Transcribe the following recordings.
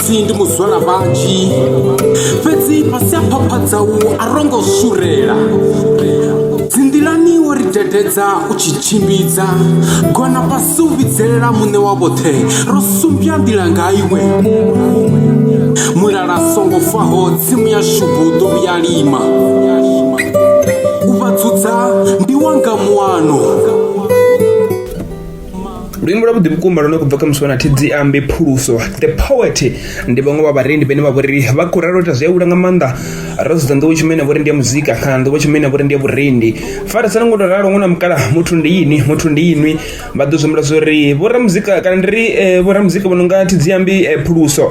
si ndi muzwala vhanzhi fhedzi fhasi a phaphatsau a rongo surela dzinḓilani wo ri dededza u tshi tshimbidza gona fhasi u vhidzelela muṋe wa vhoṱhe ro sumbya nḓila nga iwe mulala songo faho tsimu ya shubu ḓo vhuya lima u vha dzudza ndi wanga muano luimbo lwavhuḓi vhukuma lune khou bva kha musiwana thidzi ambe phuluso the poet ndi vhaṅwe vha vharendi vhane vha vhori vha khou ralota zwi a hula nga maanḓa ro sedza nḓowetsho imene vhori ndi ya muzika kana nḓowetsho imene vhori ndi ya vhurendi farisana ngo to ralo ṅwana mukala muthu ndi yini muthu ndi yinwi vha ḓo zwi humbula zwo ri vhoramuzika kana ndi ri vhoramuzika vho no nga thidzi ambe phuluso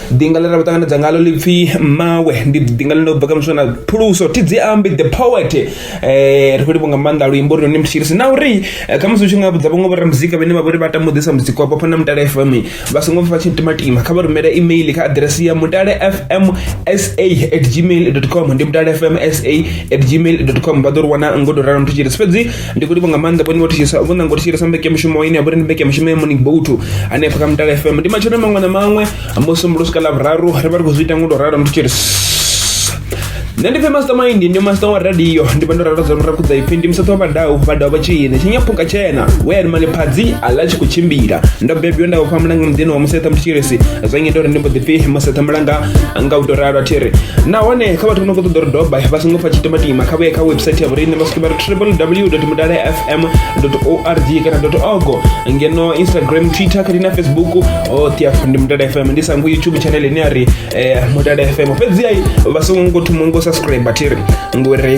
Ḓinga ḽe ra vha ṱanganedza ngaḽo ḽi pfhi mmawe ndi ḓinga ḽine u bva kha muswa na phuluso thi dzi ambi the poet ri khou livha nga maanḓa luimbo uri ni thetshelese na uri khamusi u tshi nga vhudza vhaṅwe vho ramuzika vhane vha vha uri vha tama u ḓisa muzika wavho hafha na mutale F_M vha songo pfha vha tshi timatima kha vha rumele email kha aḓirese ya mutale F_M S_A at gmail dot com ndi mutale F_M S_A at gmail dot com vha ḓo ri wana ngo to ralo ni thetshelesi fhedzi. ndi khou livha nga maanḓa vhone vho thitshisa vho nanga u thitshilesa mbekemushumo ine ya vha uri ndi mbekemushumo ya morning boat hanefha kha mutala fm ndi matsheloni maṅwe na maṅwe musumbulo swika ḽa vhuraru ri vha ri khou zwi ita ngo to ralo ndi tshi ri nṋe ndi pfe mastermind ndi master wa radio ndi vha ndo ralo dza ra khudza ipfi ndi musathu wa vhadau vhadau vha tshine tshinyaphunga tshena we ari mali phadzi aḽa tshi khou tshimbila ndo bebiwa nda upfa mulanga muḓini wa musetha mutshilesi zwa ngita uri ndi mbo ḓi pfi musetha mulanga nga u to ralo a thi ri nahone kha vhathu vho no khou ṱoḓa uri doba vha songo pfa tshitimatima kha vhuye kha website ya vhorine vha xibaar www madaare fm org kana org ngeno instagram twitter kati na facebook o tiafu ndi mudale fm ndi sangu youtube channel ine ari eh, mudale fm fhedzi ayi vha songo ngo thoma ngo subscribe tiri ngori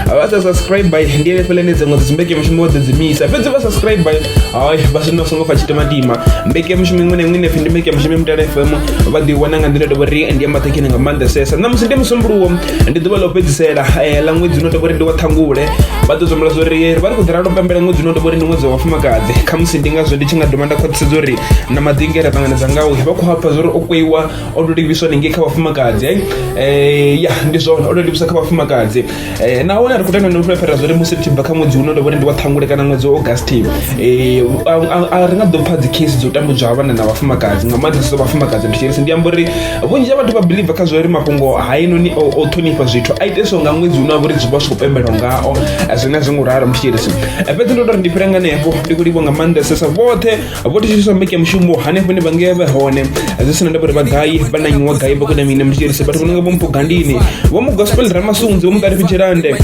vha sa subscribe ndi ene fele ne dziṅwe dzimbeke mushumo dze dzimisa fhedzi vha subscribe ayi vha zwino songo fa tshitimatima mbeke mushumo iṅwe na iṅwe ine pfi ndi mbeke mushumo mudale fm vha ḓi wana nga nḓila tovhori ndi ya maṱhakheni nga maanḓesesa ṋamusi ndi musumbuluwo ndi ḓuvha ḽo fhedzisela eh, ḽa ṅwedzi uno tovhori ndi wa ṱhangule vha ḓo zwambula zwa uri vha ri khou ḓi ralo pembela ṅwedzi uno tovhori ndi ṅwedzi wa vhafumakadzi khamusi ndi ngazwo ndi tshi nga dovha nda khwaṱhisedza uri na madinge ra ṱanganedza ngawo vha khou hafha zwa uri o kweiwa o to livhiswa ningei kha vhafumakadzi eh? Eh, ya ndi zwone o to livhiswa kha vhafumakadzi Eh, nahone a ri khou tenda no fhulefhela zwa uri musi ri tshi bva kha ṅwedzi uno tovhori ndi wa ṱhangule kana ṅwedzi wa augusti eh, a- a- a ri nga ḓo pfa dzi case dzo tambudzwa ha vhana na vhafumakadzi nga maanḓesesa vhafumakadzi ndi tshirisi ndi amba uri vhunzhi ha vhathu vha biḽiva kha zwa uri mafhungo hainoni o ṱhonifha zwithu a iteswa nga ṅwedzi une wa vha uri zwi vha zwi khou pembelwa ngao zwine a zwi ngo ralo muthetshelesi fhedzi ndo tori ndi fhira nganefho ndi khou livho nga maanḓesesa vhoṱhe vho thetshelesa mbeke mushumo hanefho ndi vhangea vhe hone zwi sina ndavha uri vha gai vha na nyiwa gai vha kona mine muthetshelesi vhathu vho nonga vho mpogandini vho mu gospel ramasunzi vho mu ṱalifitshelande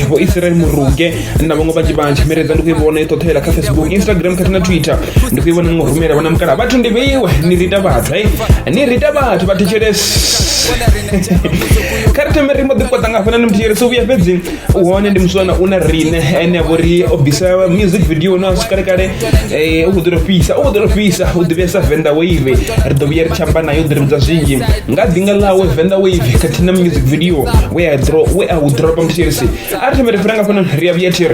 vho israel muruge na vhaṅwe vhanzhi vhanzhi miredza ndi khou i vhona i ṱoṱhela kha facebook instagram khathihi na twitter ndi khou i vhona ngo rumela vhona mukala vhathu ndi vheiwe ni rita vhathu hai ni rita vhathu vha thetshelesi kha ri thome ri mbo ḓi kwaṱa nga hafhana ni muthetshelesi u vhuya fhedzi u hone ndi muswana u na rine ene a vho ri o bvisa music video na swikale kale u khou ḓi tou fhisa u khou ḓi tou fhisa u ḓivhea sa venda wave ri ḓo vhuya ri tshi amba naye u ḓi ri vhudza zwinzhi nga ḓinga ḽawe venda wave khathihi na music video we a dropa muthetshelesi Sa aarde mi refranga ko noon riya wiyetir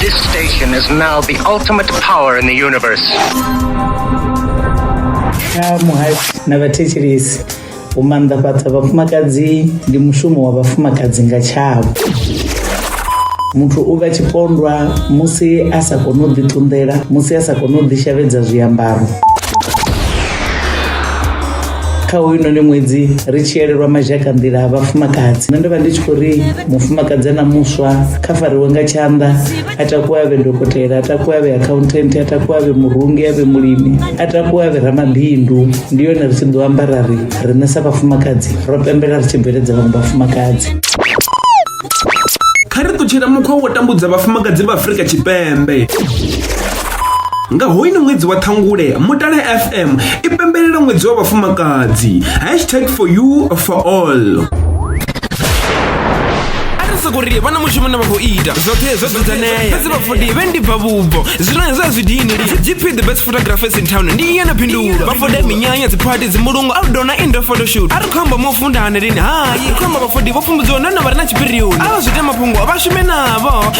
This station is now the ultimate power in the universe. kha muhasho na vhathetshelesi u maanḓafhadza vhafumakadzi ndi mushumo wa vhafumakadzi nga tshavho muthu u vha tshipondwa musi a sa koni u ḓiṱunḓela musi a sa koni u ḓishavhedza zwiambaro kha hoyunoni ṅwedzi ri tshi elelwa mazhaka nḓila a vhafumakadzi nṋe ndo vha ndi tshi khou ri mufumakadzi na muswa kha fariwe nga tshanḓa a takuwe avhe dokotela a takuwe avhe accountant a takuwe avhe murungi avhe mulimi a takuwe avhe ramabindu ndi yone ri tshi ḓo amba ra ri riṋe sa vhafumakadzi ro pembela ri tshi bveledza vhaṅwe vhafumakadzi kha ri ṱutshela mukhwa wo tambudza vhafumakadzi vha afurika tshipembe nga hoyino ṅwedzi wa ṱhangule mutale fm i pembelela ṅwedzi wa vhafumakadzi hashtag for you for all a ri soko ri vha na mushumo na vha khou ita zwoṱhe zwo dzudzanea fhedzi vhafudi vhe ndi bva vhubvo zwino hezwo a zwi dini lini gp the best photographers in town ndi iye na phindulo vhafude minyanya dziphathi dzimulungu outdoor na indoor photoshoot a ri khou amba mo funda hani lini hayi ri khou amba vhafudi vho pfumbudziwa nahone vha re na tshipirioni a vha zwi ita mafhungo vha shume navho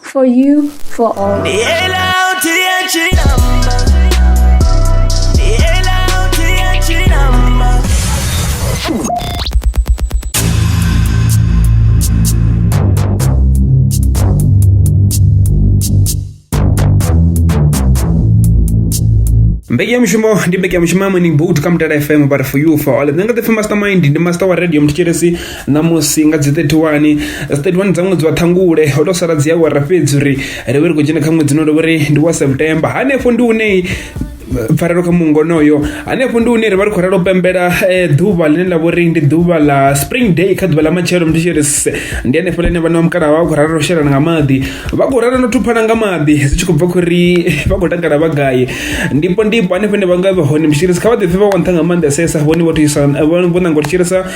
For you, for all. mbekanyamushumo ndi mbekanyamushumo ya morning boat kha mutala fm but for you for all nṋe nga ḓipfi mastermind ndi master wa radio mthetshelesi ṋamusi nga dzi 31 dzi 31 dza ṅwedzi wa ṱhangule ho tou sala dzi awara fhedzi uri ri vhe ri khou dzhena kha ṅwedzi no ri vhori ndi wa september hanefho ndi une pfarelo kha mungo onoyo hanefho ndi hune ri vha ri khou ralo pembela eh, ḓuvha ḽine ḽa vhori ndi ḓuvha ḽa spring day kha ḓuvha ḽa matshelo mndu tshi ri se ndi hanefho ḽine vhana vha mukalaha vha khou ralo u shelana nga maḓi vha khou ralo no thuphana nga maḓi zwi tshi khou bva khou ri vha khou takala vha gai ndipo ndipo hanefho hune vha nga vha hone mshirisi kha vha ḓipfe vha wa nṱha nga maanḓesesa vhone vho thusa vho ṋanga u tshirisa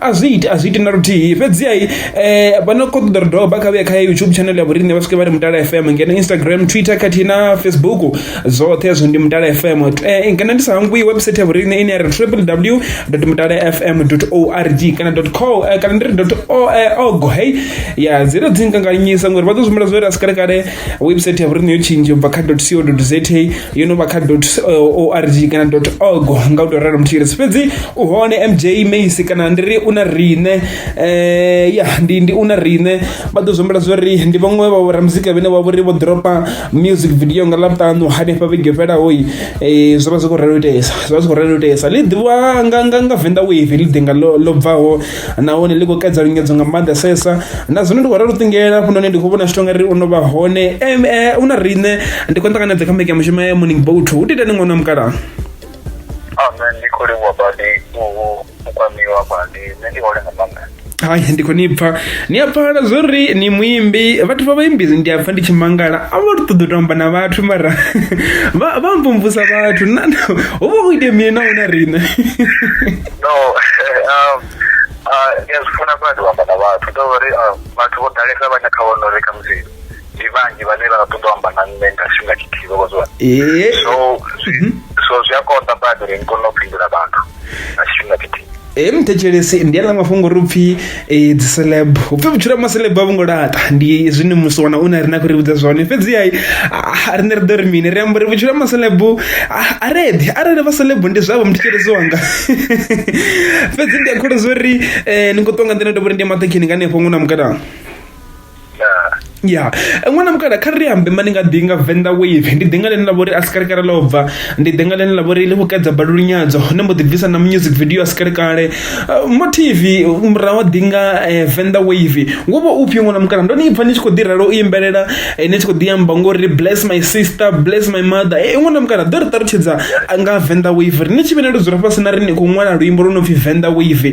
A zwi iti, a zwi iti na luthihi fhedziha vha no kho ṱoḓa ri dovha kha vhuye kha YouTube channel ya vhoriṋe vha swike vha ri Mutala F_M ngeno Instagram, Twitter khathihi na Facebook zwoṱhe hezwo ndi Mutala F_M. Ngeno ndi sa hangwi website ya vhoriṋe ine ya ri triple W dot mutala F_M dot org kana dot co kana ndi ri dot org hey ya dzi ita dzi nganganyisa ngori vha ḓo zwi humbula zwo ri a si kale kale website ya vhoriṋe yo tshintsha ubva kha dot co dot za. yo no vha kha uh, org kana dot org nga u tou ralo mutshilisi fhedzi u hone mj macy kana ndi ri u na riṋe um ya ndi ndi u na riṋe vha ḓo zwombela zwo ri ndi vhaṅwe vha vhoramuzika vhene vha vhori vho dropa music video nga ḽavhuṱanu hanefha vhege fhelahoi um eh, zwo vha zwi khou relo itesa zwo vha zwi khou relo itesa ḽi ḓivhiwa nga nga nga venḓa wave ḽi ḓi nga ḽo bvaho nahone ḽi khou kaidza lungedzo nga maanḓesesa na zwino ndi khou ralo ṱingela hafhunoni ndi khou vhona zwithu ngari u no vha hone um u na riṋe ndi khou ṱanganedza kha mbeke ya mushumo ya morning boat u titani ṅwana wa mukalaha ame ndi khou livhuwa badi u kwamiwa badi nṋe ndi hole nga maanḓa hai ndi khou ni pfa ni a pfala zwo ri ni muimbi vhathu vha vhaimbi ndi a pfa ndi tshi mangala a vha ṱoḓa u tamba na vhathu mara vha mvumvusa vhathu ho vha ho itea mini na huna riṋe no um ndi a zwi funa kona ndi u amba na vhathu ndo uri vhathu vho ḓalesa vhane kha vhono ri khamusi ndi vhanzhi vhane vha ṱoḓa u amba na nṋe nga tshifhinga tshithihi vho zwa so mhm. so zwi a konḓa badi uri ni kone u fhindula vhathu nga tshifhinga tshithihi ee muthetshelesi ndi aḽa mafhungo uri upfhi ee dzi celeb upfi vhutshilo ha maceleb a vhungo laṱa ndi zwine musi wana une rina khou ri vhudza zwone fhedzi hai rine ri ḓo ri mini ri amba uri vhutshilo ha maceleb a reḓi arali vha celeb ndi zwavho muthetshelezi wanga fhedzi ndi a kholo zwo ri ni khou ṱonga nḓila ndo vhori ndi ya maṱekhini nga hanefho ṅwe na mukalaha ya ṅwana mukala kha ri ambe mani nga ḓi nga venḓa wave ndi ḓinga ḽine ḽa vhori a sikalekale ḽo bva ndi ḓinga ḽine ḽa vhori ḽi vhukadza balulu nyadzo hone mbo ḓi bvisa na music video a sikalekale uh, motivi murahu a ḓinga eh, venḓa wave wo vha u pfhi ṅwana mukala ndo ni pfha ni tshi khou ḓi ralo u imbelela eh, ni tshi khou ḓi amba ngori bless my sister bless my mother eh, ṅwana mukala ḓo ri ṱalutshedza nga venḓa wave ri ni tshi vhene ndo dzula fhasi na ri ni khou ṅwala luimbo lwo no pfhi venḓa wave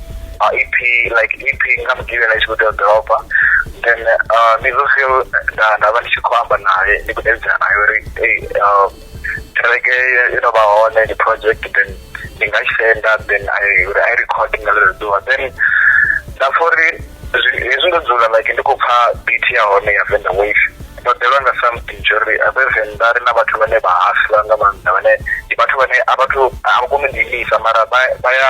EP like EP nga mugivhela itshi kho tea u dropa then uh, mizo feel nda nda vha ndi tshi khou amba naye ndi khou davhidzana naye uri ei uh, kereke yo no vha hone ndi project then ndi nga tshi senda then i uri i record nga ḽeḽo ḓuvha then nda pfa uri hezwi ndo dzula like ndi khou pfa beat ya hone ya venda wave ndo ḓelwa nga something tsho uri abe venḓa ri na vhathu vhane vha hasla nga maanḓa vhane ndi vhathu vhane a vhathu a vha koni u ḓiimisa mara vha ya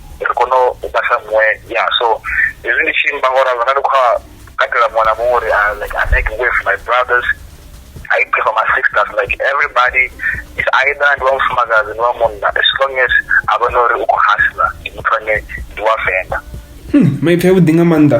ri kone u vha sa muṅwe ya so hezwi ndi tshi imba ngo ralo na ndi khou katela muṅwe na muṅwe uri ah, like i make way for my brothers i pray for my sisters like everybody is either ndi wa mufumakadzi ndi wa munna as long as a vhona uri u khou hasla ndi muthu ane ndi wa venḓa hmm, maipfi avhuḓi nga maanḓa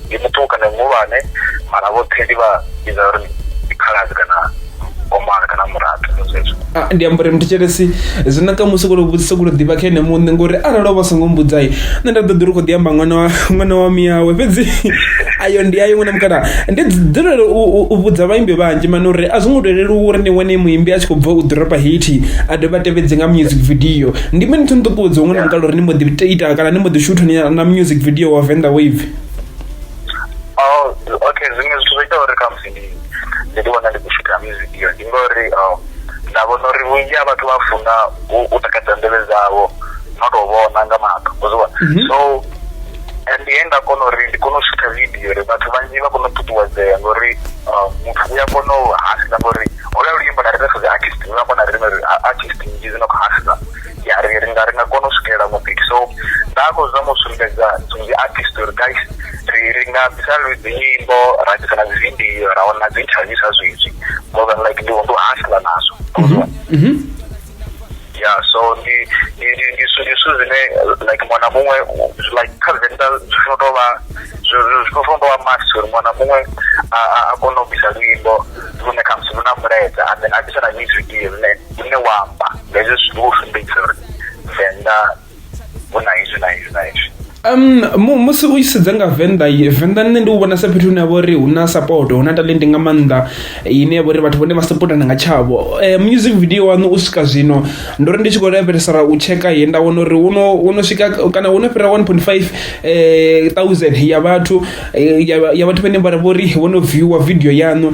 ndi muṱuku kana muhulwane mara vhoṱhe ndi vha vhidza uri ndi khaladzi kana komana kana muraḓo ndo zwezwo Ah, ndi amba uri muthetshelesi zwi naka musi kolo vhudzisa kolo ḓivha kha ene muṋe ngori arali o vha songo mbudzai nṋe nda ḓo ḓi ri khou ḓi amba ṅwana wa ṅwana wa miyawe fhedzi ayo ndi ayo ṅwana mukala ndi dzulela u, u, u vhudza vhaimbi vhanzhi mani uri a zwo ngo tou leluwa uri ni wane muimbi a tshi khou bva u ḓoropa haiti a dovha a tevhedze nga music video ndi mini thu nṱuṱuwedza ṅwana mukala uri ni mbo ḓi ita kana ni mbo ḓi shutha ni na music video wa venḓa wave Oh, okay zwiṅwe zwithu zwo ita uri khamusi ndi ndi ḓi wana ndi khou shutha music iyo ndi ngori um nda vhona uri vhunzhi ha vhathu vha funa u u takadza nḓevhe dzavho no tou vhona nga maṱo u zwi vhona Mhm. so and he nda kona uri ndi kone u shutha video uri vhathu vhanzhi vha kone u ṱuṱuwedzea ngori um, muthu u a kona u hafhiza ngori hola luimbo na ri ri sedza artist u a kona ri ri artist nnzhi dzi no khou hafhiza ya ri ri nga ri nga kona u swikelela mupiki so nda khou zama u sumbedza dzi artist uri guys ri ri nga bvisa dzi nyimbo ra bvisa na dzi video ra wana dzi interview sa zwezwi more than like ndi ndi hasla nazwo mhm, mhm. ya so ndi ndi ndi ndi zwithu zwine like mwana muṅwe like kha venḓa zwi funa tou vha zwi funa tou vha must uri mwana muṅwe a kone u bvisa luimbo lune khamusi lu na mulaedza and then a bvisa na music ine une wa amba hezwo zwithu ndi u sumbedzisa uri venḓa hu na izwi na izwi na izwi Um musi u sedza nga Venḓa Venḓa nṋe ndi u vhona sa fhethu hune havha uri hu na support hu na talent nga maanḓa ine yavha uri vhathu vhone vha supportana nga tshavho eh, music video waṋu u swika zwino ndo ri ndi tshi khou lavhelesa u tsheka ye nda wana uri wono wono swika kana wono fhira 1.5 eh, thousand ya vhathu eh, ya vhathu vhane vha vhori wono viewer video yaṋu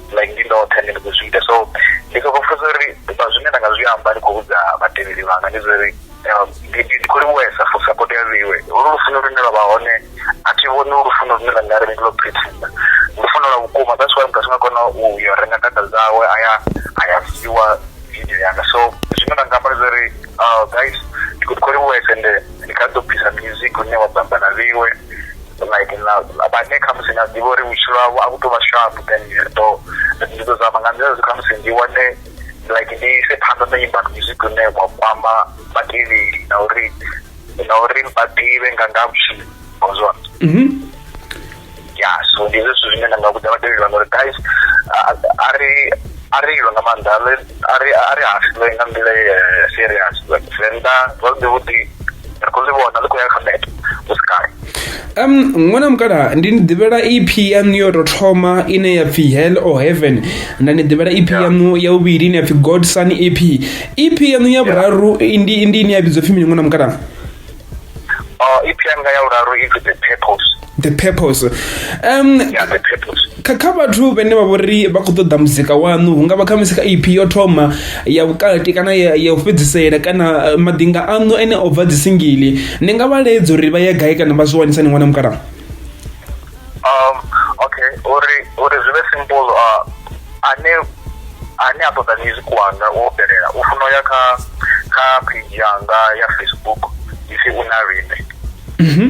like ndi ndoṱhe ndi ndi khou zwi ita so ndi soko pfha uri vha zwine nda nga zwi amba ndi khou vhudza vhatevheli vhanga ndi zwa uri um, ndi ndi- ndi khou livhuwesa for support ya vheiwe ulu lufuno lune lwa vha hone a thi vhoni ulu lufuno lune lwa nga ri ndi lwo pretenda lufuno lwa vhukuma that's why muthu a songa kona u yo renga data dzawe aya aya viewa video yanga so zwine nda nga amba ndi zwa uri uh, guys ndi khou ndi khou livhuwesa ende ndi kha ḓo bvisa music une wa bamba na vheiwe like na vhane khamusi na ḓivha uri vhutshilo havho a vhu tou vha sharp then ri ḓo ndi ḓo zama nga nḓila zwi khamusi ndi wane like ndi ise phanḓa na nyimba music une wa kwama vhatevheli na uri na uri vha ḓivhe nga nga vhutshilo ngozwa mhm. ya so ndi zwithu zwine nda nga vhudza vhatevheli vhanga uri guys a ri a ri ilwe nga maanḓa a ri a ri hafiwe nga nḓila ya serious venḓa zwavhuḓi vhuḓi ri khou zwi vhona ḽi khou ya kha meta hu si kale um ṅwana mukala ndi ni ḓivhela ep yaṋu yo tou thoma ine ya pfhi hell or heaven nda ni ḓivhela ep yaṋu ya vhuvhili ine ya pfhi god son ep ep yaṋu ya vhuraru ndi ndi ine ya vhidzwa pfhi mini ṅwana mukala ep yanga ya vhuraru i pfhi the purpose the purpose um yeah, the purpose kha kha vhathu vhene vha vhori vha khou ṱoḓa muzika waṋu hu nga vha kha musi kha ep yo thoma ya vhukati kana ya, ya u fhedzisela kana eh, maḓinga aṋu ene o bva dzisingili ni nga vha ledza uri vha ye gai kana vha zwi wanisa ni wana mukalaha um okay uri uri zwi vhe simple uh, ane ane a ṱoḓa music wanga wo fhelela u funa ya kha kha page yanga ya facebook isi una rine mm -hmm.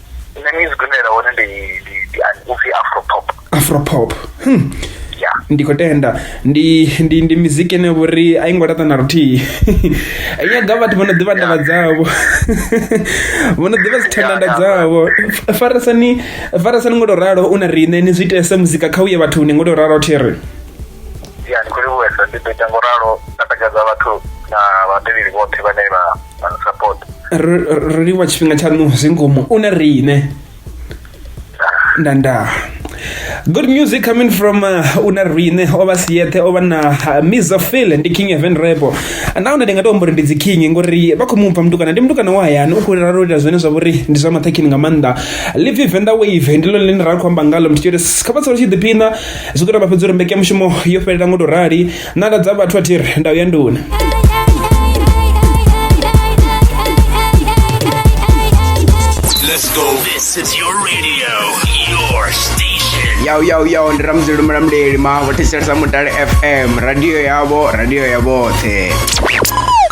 nṋe music ine nda hone ndi ndi ndi upfi afro pop afro pop hmm. yeah. ndi khou tenda ndi ndi ndi miziki ine vhori a i ngo laṱa na luthihi i nyaga vhathu vho no ḓivha ndavha dzavho vho no ḓivha dzithandanda dzavho farisani farisani ngo to ralo u na riṋe ni zwi itese muzika kha uye vhathuni ngo to ralo thiri ya ndi khou livhuwesa ndi ḓo ita ngo ralo na takadza vhathu na vhatevheli vhoṱhe vhane vha ro livhuwa tshifhinga tshaṋu zwi ngomu u na riṋe ndandaa good music coming from uh, una rine ova siete ova na uh, miza fil ndi king event rebo nahone ndi nga tou mbori ndi dzi king ngori vha khou mupha mutukana ndi mutukana wa hayani u khou rera ro ita zwine zwa vhori ndi zwa maṱhakhini nga maanḓa live venda wave ndi lone ḽine ra khou amba ngalo muthu uri kha vha tsalo tshi ḓiphina zwi khou tou vha fhedza uri mbekemushumo yo fhelela ngo tou rali nanda dza vhathu athi ri ndau ya nduni Let's go. This is your radio, your station. yau yau yau ndi ramuzeli mulamuleli maho thetshelesa mutale fm radio yavho radio ya vhoṱhe